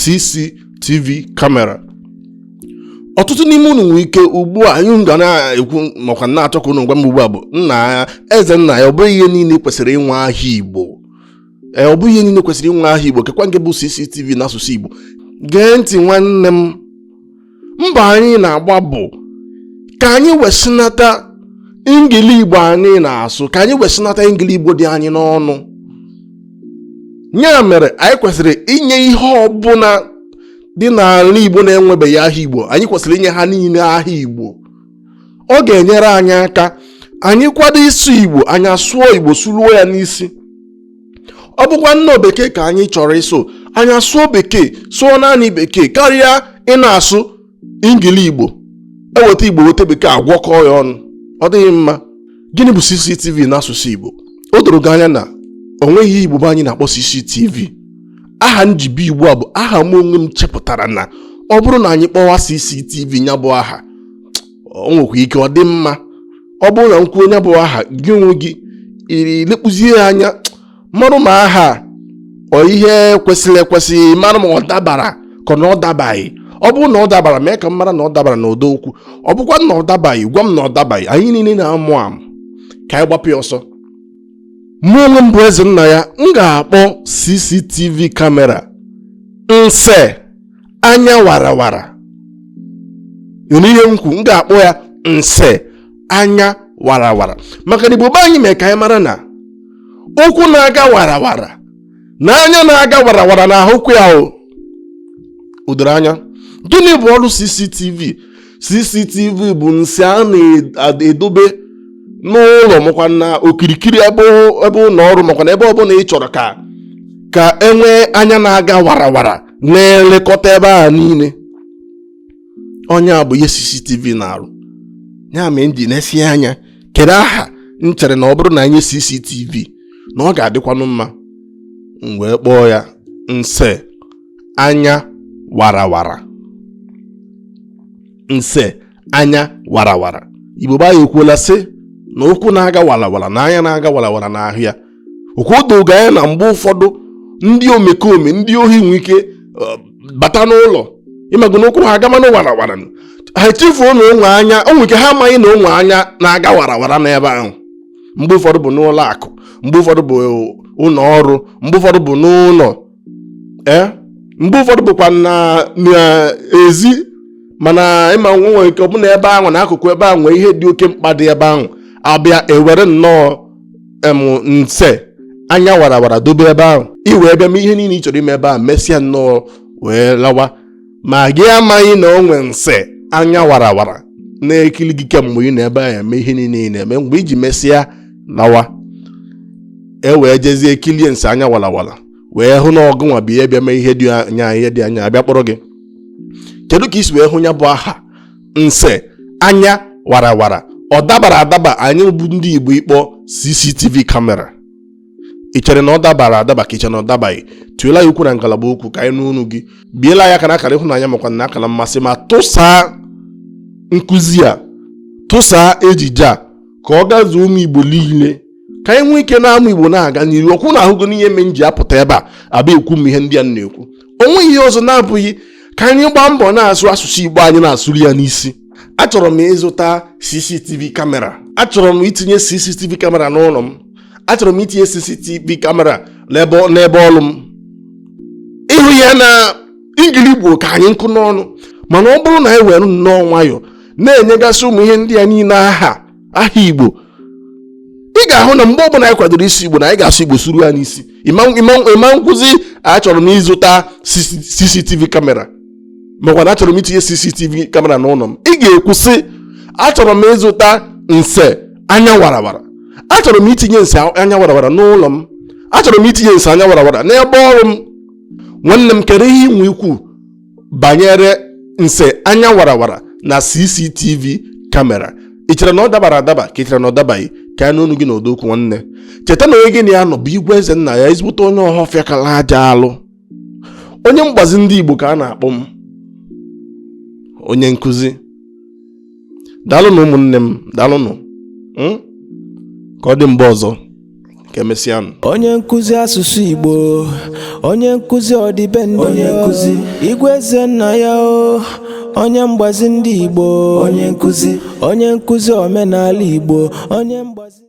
CCTV kamera ọtụtụ n'ime unu nwere ike ugbu a anyị ga na-ekwu makwa na-achọ ka unu gwa m ugbu a bụ nna eze nna ya ọ bụghị ihe niile kwesịrị inwe aha Igbo ee ọ bụghị ihe niile kwesịrị inwe aha Igbo kekwa nke bụ CCTV n'asụsụ Igbo gee ntị nwanne m mbọ anyị na-agba bụ ka anyị wesinata ingili igbo anyị na-asụ ka anyị wesinata ingili igbo dị anyị n'ọnụ ya mere anyị kwesịrị inye ihe ọbụla dị n'ala igbo na-enwebeghị aha igbo anyị kwesịrị inye ha niile aha igbo ọ ga-enyere anyị aka anyị kwado ịsụ igbo anyị asụọ igbo sụruo ya n'isi ọ bụkwa na ọ bekee ka anyị chọrọ ịsụ anyị asụọ bekee sụọ naanị bekee karịa ị na-asụ ingili igbo eweta igbo weta bekee agwọkọọ ya ọnụ ọ dịghị mma gịnị bụ cctv n'asụsụ igbo o doro gị anya na o nweghị aha igbo be anyị na-akpọ cctv aha m ji bịa ugbu a bụ aha mụ onwe m chepụtara na ọ bụrụ na anyị kpọwa cctv ya bụ aha o nwekwa ike ọ dị mma ọ bụrụ na m kwuo nya bụ aha gị onwe gị lekpuzie ya anya marụ ma aha ọ ihe kwesịrị ekwesị marụ ma ọ dabara ka ọ na ọ dabaghị ọ bụrụ na ọ dabara mee ka m mara na ọ dabara n'ụdọ okwu ọ bụkwa na ọ dabaghị gwa m na ọ dabaghị anyị niile na-amụ amụ ka anyị gbapụ ya ọsọ mụ onwe m bụ eze nna ya m ga-akpọ cctv kamera nse anya warawara ị nụrụ ihe m kwu m ga-akpọ ya nse anya warawara maka na igbo be anyị mee ka anyị mara na ụkwụ na-aga warawara na anya na-aga warawara na-ahụkwu ya o doro anya gịnị bụ ọrụ cctv cctv bụ nse a na-edobe n'ụlọ makwa na okirikiri ebe ụlọ ọrụ makwa na ebe ọbụla ị chọrọ ka e nwee anya na-aga warawara na-elekọta ebe ahụ niile ọ nya bụ ihe CCTV na-arụ ya mee m ji nesie anya kedu aha m chere na ọ bụrụ na e nye CCTV na ọ ga-adịkwanụ mma m wee kpọọ ya nse anya warawara nse anya warawara igbo be anyị ekwuola sị na ụkwụ na-aga warawara na anya na-aga warawara na-ahụ ya ọkwa o do gị anya na mgbe ụfọdụ ndị omekome ndị ohi nwe ike uh, bata n'ụlọ ị mago na ụkwụ ha agamanụ warawara ha echefuo na o nwe anya o nwere ike ha amaghị na o nwe anya na-aga warawara n'ebe ahụ mgbe ụfọdụ bụ n'ụlọ akụ mgbe ụfọdụ bụ ụlọ ọrụ mgbe ụfọdụ bụ n'ụlọ ee mgbe ụfọdụ bụkwa na n'ezi mana ị ma na e nwere ike ọ bụ na ebe ahụ n'akụkụ ebe ahụ nwee ihe dị oke mkpa dị ebe ahụ a bịa ewere nnọọ em nse anya warawara dobe ebe ahụ i wee bịa mee ihe niile ị chọrọ ime ebe ahụ mesịa nnọọ wee lawa ma gị amaghị na o nwe nse anya warawara na-ekili gị kemgbe ị nọ ebe ahụ eme ihe niile ị na-eme mgbe i ji mesịa lawa e wee jezie kilie nse anya warawara wee hụ na ọ gịnwa bụ onye bịa mee ihe dị anya ihe dị anya a bịa kpọrọ gị kedu ka i si wee hụ ya bụ aha nse anya warawara ọ dabara adaba anyị bụ ndị Igbo ịkpọ CCTV kamera ị chere na ọ dabara adaba ka i che na ọ dabaghị tụela ya okwu na ngalaba okwu ka anyị nụ onu gị biela ya aka n'akara ịhụnanya makwa n'akara mmasị ma tụsaa nkụzi a tụsaa ejije a ka ọ gazuo ụmụ igbo niile ka anyị nwee ike na-amụ igbo na-aga n'iru ọkwa unu ahụgo n'ihe mee m ji apụta ebe a abịa ekwu ụmụ ihe ndị a m na-ekwu o nweghị ihe ọzọ na-abụghị ka anyị gbaa mbọ na-asụ asụsụ igbo anyị na-asụrụ ya n'isi achọrọ m ịzụta cctv kamera achọrọ m itinye cctv kamera n'ụlọ m achọrọ m itinye cctv kamera n'ebe ọrụ m ị hụ ya na ingili igbo ka anyị nkọ n'ọnụ mana ọ bụrụ na anyị were nnọọ nwayọọ na-enyegasị ụmụ ihe ndị a niile aha aha igbo ị ga-ahụ na mgbe ọbụla anyị kwadoro ịsụ igbo na anyị ga-asụ igbo sụru ya n'isi ị ma na-ekwuzi achọrọ m ịzụta cctv kamera makwa na achọrọ m itinye cctv kamera n'ụlọ m ị ga-ekwu sị achọrọ m ịzụta nse anya warawara achọrọ m itinye nse anya warawara n'ụlọ m achọrọ m itinye nse anya warawara n'ebe ọrụ m nwanne m kedu ihe i nwe ikwu banyere nse anya warawara na cctv kamera ị chere na ọ dabara adaba ka ị chere na ọ dabaghị ka anyị nụ onu gị n'ọdọ okwu nwanne cheta na onye gị na ya nọ bụ igwe eze nna ya ezigbote onye ọhafịa kala aja alụ onye mgbazi ndị Igbo ka a na-akpọ m onye nkụzi daalụnụ ụmụnne m daalụnụ hmm? ka ọ dị mgbe ọzọ ka emesịanụ onye nkụzi asụsụ Igbo onye nkụzi ọdịbendị onye nkụzi igwe eze nna ya o onye mgbazi ndị Igbo onye nkụzi omenala Igbo onye mgbazi